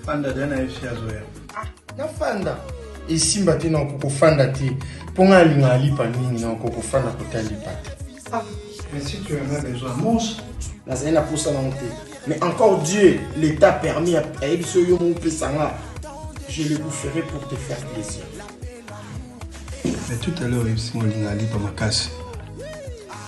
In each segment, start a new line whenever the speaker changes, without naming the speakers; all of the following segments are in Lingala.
fanda da na fc azoya ah, na fanda
esimba te na oko kofanda te mpo ngai alinga alipa mingi na oko kofanda kota lipa te
ah, nazali na mposa
nango te mais encore dieu l'état permis ayebi so yo moko opesa nga je le boufferai pour te faire plaisir
mais tout à l'heure oyebisi molinga alipa makasi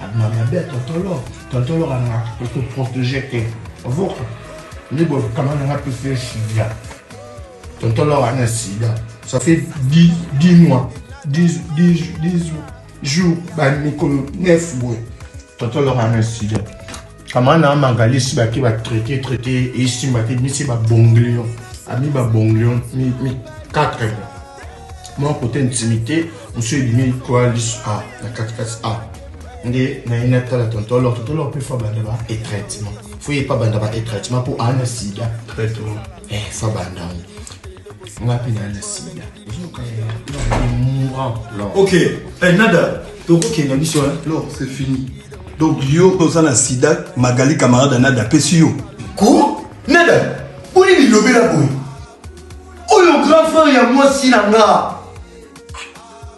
Abima mabe ya tonton Lor. Tonton Lor alingaka koso protéger te. Ovoka. Nde boye kama nanga pesa ye sida. Tonton Lor ana sida. Ça fait 10, 10 mois. 10, 10, 10 jours. Ba mikolo 9 boye. Tonton Lor ana sida. kama na mangalisi bake ba traite traite esimba te misi ba bonglion ami ba bonglion mi mi quatre mo mwa kote intimité mosu ebimi koalis a na katikati a nde naye natala tonto alors tonto alors mpe fo abanda ba etraitement fo ye mpe abanda ba etraitement mpo ana sida traitement
Eh, ça va, non.
Ngapi na na sida.
Ok, eh, nada, tokokenda biso, hein? Non, c'est fini. Donc, yo, oza na sida, Magali, camarade, nada, pesi yo. Quoi?
Nada, boni bilobela boye? Oyo grand frère ya mwasi na nga.